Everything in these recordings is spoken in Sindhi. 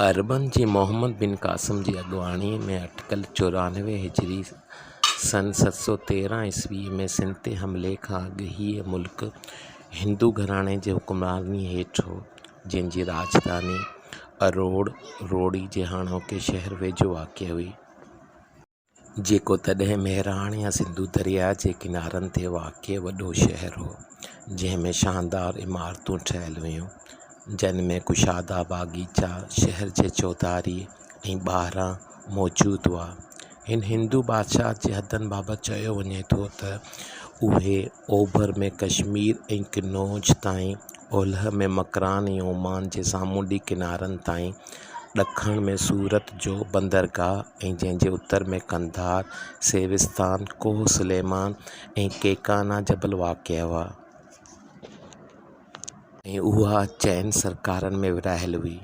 عربن جي محمد بن قاسم جي اڳواڻيء ۾ اٽڪل چورانوي هجري سن ست سؤ تيرهن عيسويء ۾ سنڌ تي حملي کان اڳ هيء ملڪ هندو گهراڻي جي حڪمرانيء هيٺ هو، جنهن جي راڄڌاني اروڙ، روهڙي جي هاڻوڪي شهر ويجهو واقع هئي. جيڪو تڏهن مهراڻ يا سنڌو درياهه جي ڪنارن تي واقع وڏو شهر هو، جنهن ۾ شاندار عمارتون ٺهيل هيون، جن ۾ ڪشادا باغيچا شهر جي چوڌاري ۽ ٻاهران موجود هئا. هن هندو بادشاهت جي حدن بابت چيو وڃي ٿو ته اهي اوڀر ۾ ڪشمير ۽ قنوج تائين، اولهه ۾ مڪران ۽ عمان جي سامونڊي ڪنارن تائين ڏکڻ ۾ سورت جو بندرگاهه ۽ جنهن جي اتر ۾ قنڌار، سيوستان، ڪوهه سليمان ۽ ڪيڪانا جبل واقع هئا. ۽ اها چئن سرڪارن ۾ ورهايل هئي.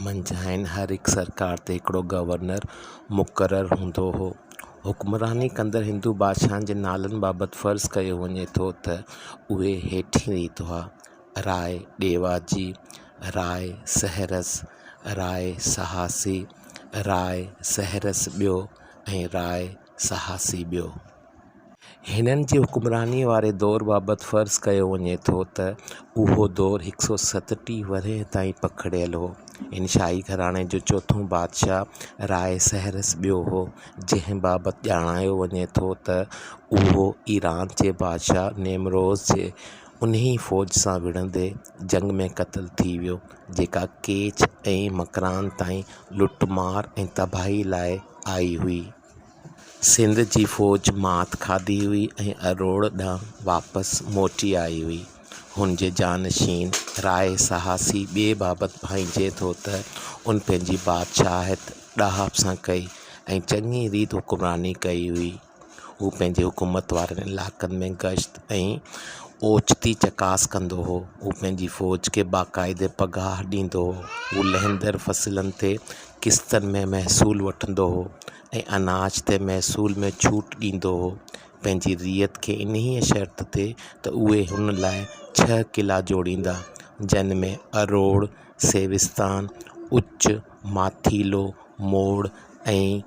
منجهانئن هر هڪ سرڪار تي هڪڙو گورنر مقرر هوندو هو. حڪمراني ڪندڙ هندو بادشاهن جي نالن بابت فرض ڪيو وڃي ٿو ته اهي هيٺين ريت هئا. راء ڏيواجي، راء سهرس، راء سهاسي، راء سهرس ٻيو ۽ راء سهاسي ٻيو. هنن جي حڪمرانيء واري دور بابت فرض ڪيو وڃي ٿو ته اهو دور هڪ سؤ ستٽيهه ورهيه تائين پکڙيل هو. هن شاهي گهراڻي جو چوٿون بادشاهه راء سهرس ٻيو هو، جنهن بابت ڄاڻايو وڃي ٿو ته اهو ايران جي بادشاهه نيمروز جي انهيء فوج سان وڙهندي جنگ ۾ قتل ٿي ويو، جيڪا ڪيچ ۽ مڪران تائين لٽ مار ۽ تباهي لاء آئي هئي. سنڌ جي فوج مات کاڌي هئي ۽ اروڙ ڏانهن واپس موٽي آئي هئي. هن جي جانشين راء سهاسي ٻيء بابت ڀانئجي ٿو ته ان پنهنجي بادشاهت ڏاهپ سان ڪئي ۽ چڱي ريت حڪمراني ڪئي هئي. هو پنهنجي حڪومت وارن علائقن ۾ گشت ۽ اوچتي چڪاس ڪندو هو. هو پنهنجي فوج کي باقاعدي پگهار ڏيندو هو. هو لهندڙ فصلن تي قسطن ۾ محصول وٺندو هو ۽ اناج تي محصول ۾ ڇوٽ ڏيندو هو. پنهنجي رعيت کي انهيء شرط تي ته اهي هن لاء ڇهه قلعا جوڙيندا، جن ۾ اروڙ، سيوستان، اچ، ماٿيلو، موڙ ۽.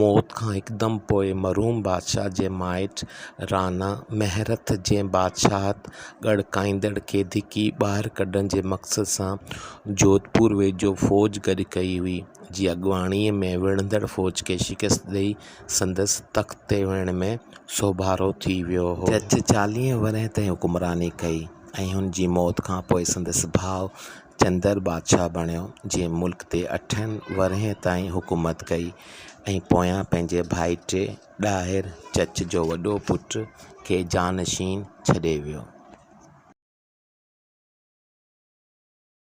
موت کان هڪدم پوء مرحوم بادشاهه جي مائٽ رانا مهرٿ جي بادشاهت ڳڙڪائيندڙ کي ڌڪي ٻاهر ڪڍڻ جي مقصد سان جوڌپور ويجهو فوج گڏ ڪئي هئي، جي اڳواڻيء ۾ وڙهندڙ فوج کي شڪست ڏيئي سندس تخت تي ويهڻ ۾ سوڀارو ٿي ويو هو. جج چاليهه ورهين تائين حڪمراني ڪئي ۽ هن جي موت کان پوء سندس ڀاء چندر بادشاهه بڻيو، جنهن ملڪ تي اٺن ورهين تائين حڪومت ڪئي ۽ پويان پنهنجي ڀائٽي ڏاهر چچ جو وڏو پٽ کي جانشين ڇڏي ويو.